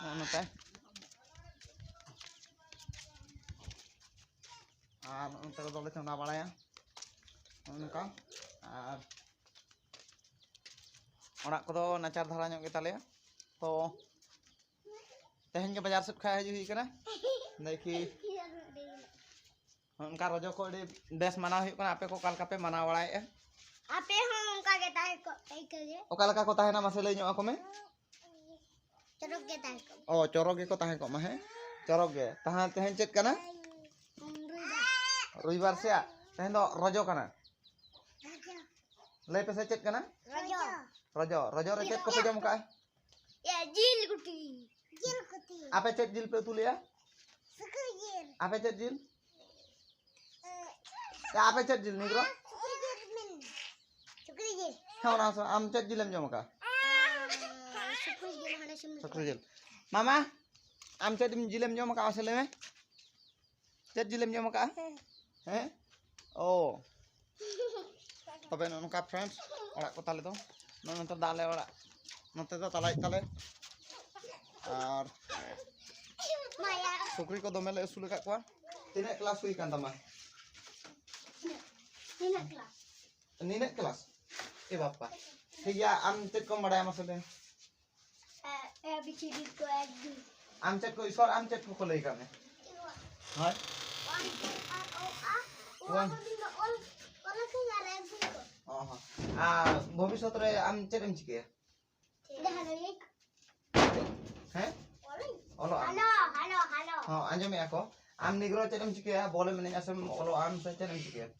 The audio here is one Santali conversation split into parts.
ᱱᱚᱜᱼᱚ ᱱᱚᱝᱠᱟ ᱟᱨ ᱱᱚᱜᱼᱚ ᱱᱚᱝᱠᱟ ᱫᱚᱞᱮ ᱪᱚᱸᱫᱟ ᱵᱟᱲᱟᱭᱟ ᱱᱚᱜᱼᱚ ᱱᱚᱝᱠᱟ ᱟᱨ ᱚᱲᱟᱜ ᱠᱚᱫᱚ ᱱᱟᱪᱟᱨ ᱫᱷᱟᱨᱟ ᱧᱚᱜ ᱜᱮᱛᱟᱞᱮᱭᱟ ᱛᱚ ᱛᱮᱦᱮᱧ ᱜᱮ ᱵᱟᱡᱟᱨ ᱥᱮᱫ ᱠᱷᱚᱱ ᱦᱤᱡᱩᱜ ᱦᱩᱭ ᱠᱟᱱᱟ ᱫᱮᱠᱷᱤ ᱚᱱᱠᱟ ᱨᱚᱡᱚ ᱠᱚ ᱟᱹᱰᱤ ᱵᱮᱥ ᱢᱟᱱᱟᱣ ᱦᱩᱭᱩᱜ ᱠᱟᱱᱟ ᱟᱯᱮ ᱠᱚ ᱚᱠᱟ ᱞᱮᱠᱟ ᱯᱮ ᱢᱟᱱᱟᱣ ᱵᱟᱲᱟᱭᱮᱫᱼᱟ ᱟᱯᱮ ᱦᱚᱸ ᱚᱱᱠᱟ ᱜᱮ ᱛᱟᱦᱮᱸ ᱠᱚᱜ ᱯᱮ ᱤᱠᱟᱹ ᱜᱮ ᱚᱠᱟ ᱞᱮᱠᱟ ᱠᱚ ᱛᱟᱦᱮᱱᱟ ᱢᱟᱥᱮ ᱞᱟᱹᱭ ᱧᱚᱜ ᱟᱠᱚ ᱢᱮ ᱪᱚᱨᱚᱠ ᱜᱮ ᱛᱟᱦᱮᱸ ᱠᱚᱜ ᱚ ᱪᱚᱨᱚᱠ ᱜᱮᱠᱚ ᱛᱟᱦᱮᱸ ᱠᱚᱜ ᱢᱟ ᱦᱮᱸ ᱪᱚᱨᱚᱠ ᱜᱮ ᱛᱟᱦᱮᱸ ᱛᱮᱦᱮᱧ ᱪᱮᱫ ᱠᱟᱱᱟ ᱨᱚᱵᱤᱵᱟᱨ ᱥᱮ ᱛᱮᱦᱮᱧ ᱫᱚ ᱨᱚᱡᱚ ᱠᱟᱱᱟ ᱞᱟᱹᱭ ᱯᱮᱥᱮ ᱪᱮᱫ ᱠᱟᱱᱟ ᱨᱚᱡᱚ ᱨᱚᱡᱚ ᱨᱚᱡᱚ ᱨᱮ ᱪᱮᱫ ᱠᱚᱯᱮ ᱡᱚᱢ ᱠᱟᱜᱼᱟ ᱡᱤᱞ ᱜᱩᱴᱤ ᱡᱤᱞ ᱜᱩᱴᱤ ᱟᱯᱮ ᱪᱮᱫ ᱡᱤᱞ ᱯᱮ ᱩᱛᱩ ᱞᱮᱜᱼᱟ ᱥᱩᱠᱨᱤ ᱡᱤᱞ ᱟᱯᱮ ᱪᱮᱫ ᱡᱤᱞ ᱟᱯᱮ ᱪᱮᱫ ᱡᱤᱞ ᱱᱤᱜᱨᱚ ᱥᱩᱠᱨᱤ ᱡᱤᱞ ᱦᱮᱸ ᱚᱱᱟ ᱟᱢ ᱪᱮᱫ ᱡᱤᱞᱮᱢ ᱡᱚᱢ ᱟᱠᱟᱫ ᱥᱩᱠᱨᱤ ᱡᱤᱞ ᱥᱩᱠᱨᱤ ᱡᱤᱞ ᱢᱟᱢᱟ ᱟᱢ ᱪᱮᱫ ᱡᱤᱞᱮᱢ ᱡᱚᱢ ᱟᱠᱟᱫ ᱢᱟᱥᱮ ᱞᱟᱹᱭ ᱢᱮ ᱪᱮᱫ ᱡᱤᱞᱮᱢ ᱡᱚᱢ ᱟᱠᱟᱫᱼᱟ ᱦᱮᱸ ᱚ ᱛᱚᱵᱮ ᱱᱚᱜᱼᱚ ᱱᱚᱝᱠᱟ ᱯᱷᱨᱮᱱᱰ ᱚᱲᱟᱜ ᱠᱚ ᱛᱟᱞᱮ ᱫᱚ ᱱᱚᱜᱼᱚ ᱱᱚᱛᱮ ᱫᱚ ᱟᱞᱮ ᱚᱲᱟᱜ ᱱᱚᱛᱮ ᱫᱚ ᱛᱟᱞᱟᱭ ᱛᱟᱞᱮ ᱟᱨ ᱥᱩᱠᱨᱤ ᱠᱚ ᱫᱚᱢᱮ ᱞᱮ ᱟᱹᱥᱩᱞ ᱟᱠᱟᱫ ᱠᱚᱣᱟ ᱛᱤᱱᱟᱹᱜ ᱠᱞᱟᱥ ᱦᱩᱭ ᱠᱟᱱ ᱛᱟᱢᱟ ᱱᱤᱱᱟᱹᱜ ᱠᱞᱟᱥ ᱱᱤᱱᱟᱹᱜ ᱠᱞᱟᱥ ᱮ ᱵᱟᱯᱟ ᱴᱷᱤᱠ ᱜᱮᱭᱟ ᱟᱢ ᱪᱮᱫ ᱠᱚᱢ ᱵᱟᱲᱟᱭᱟ ᱢᱟᱥᱮ ᱞᱟᱹᱭ ᱟᱢᱪᱮᱫ ᱠᱚ ᱤᱥᱚᱨ ᱟᱢᱪᱮᱫ ᱠᱚ ᱞᱟᱹᱭ ᱠᱟᱜ ᱢᱮ ᱦᱳᱭ ᱟᱨ ᱵᱷᱚᱵᱤᱥᱚᱛ ᱨᱮ ᱟᱢ ᱪᱮᱫ ᱮᱢ ᱪᱤᱠᱟᱹᱭᱟ ᱦᱮᱸ ᱚᱞᱚᱜ ᱟᱢ ᱦᱚᱸ ᱟᱸᱡᱚᱢᱮᱜᱼᱟ ᱠᱚ ᱟᱢ ᱱᱤᱜᱽᱨᱚ ᱪᱮᱫ ᱮᱢ ᱪᱤᱠᱟᱹᱭᱟ ᱵᱚᱞᱮᱢ ᱮᱱᱮᱡᱼᱟ ᱥᱮᱢ ᱚᱞᱚᱜ ᱟᱢ ᱥᱮ ᱪᱮᱫ ᱮᱢ ᱪᱤᱠᱟᱹᱭᱟ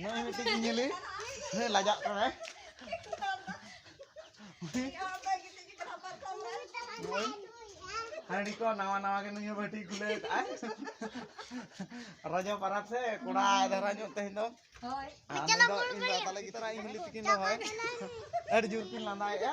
ᱱᱚᱜᱼᱚᱭ ᱢᱤᱫᱴᱤᱡ ᱜᱮ ᱧᱮᱞᱮ ᱦᱮᱸ ᱞᱟᱡᱟᱜ ᱠᱟᱱᱟᱭ ᱦᱟᱺᱰᱤ ᱠᱚ ᱱᱟᱣᱟ ᱱᱟᱣᱟ ᱜᱮ ᱱᱩᱭ ᱵᱟᱹᱴᱤ ᱜᱩᱞᱮᱫ ᱟᱭ ᱨᱟᱡᱟ ᱯᱟᱨᱟᱵᱽ ᱥᱮ ᱠᱚᱲᱟ ᱫᱷᱟᱨᱟ ᱧᱚᱜ ᱛᱮᱦᱮᱧ ᱫᱚ ᱦᱳᱭ ᱤᱧ ᱫᱚ ᱛᱟᱞᱮ ᱜᱤᱛᱟᱹᱨᱟ ᱤᱧ ᱦᱤᱞᱤ ᱛᱤᱠᱤᱱ ᱫᱚ ᱦᱳᱭ ᱟᱹᱰᱤ ᱡᱳᱨ ᱠᱤᱱ ᱞᱟᱸᱫᱟᱭᱮᱫᱼᱟ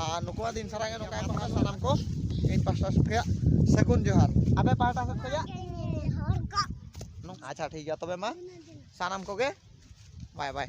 ᱟᱨ ᱱᱩᱠᱩᱣᱟᱜ ᱫᱤᱱ ᱥᱟᱨᱟ ᱜᱮ ᱱᱚᱝᱠᱟ ᱜᱮᱠᱚ ᱨᱚᱲᱟ ᱥᱟᱱᱟᱢ ᱠᱚ ᱤᱧ ᱯᱟᱥᱴᱟ ᱥᱮᱫ ᱠᱷᱚᱭᱟᱜ ᱥᱟᱹᱜᱩᱱ ᱡᱚᱦᱟᱨ ᱟᱯᱮ ᱯᱟᱦᱴᱟ ᱥᱮᱫ ᱠᱷᱚᱭᱟᱜ ᱟᱪᱪᱷᱟ ᱴᱷᱤᱠ ᱜᱮᱭᱟ ᱛᱚᱵᱮ ᱢᱟ ᱥᱟᱱᱟᱢ ᱠᱚᱜᱮ ᱵᱟᱭ ᱵᱟᱭ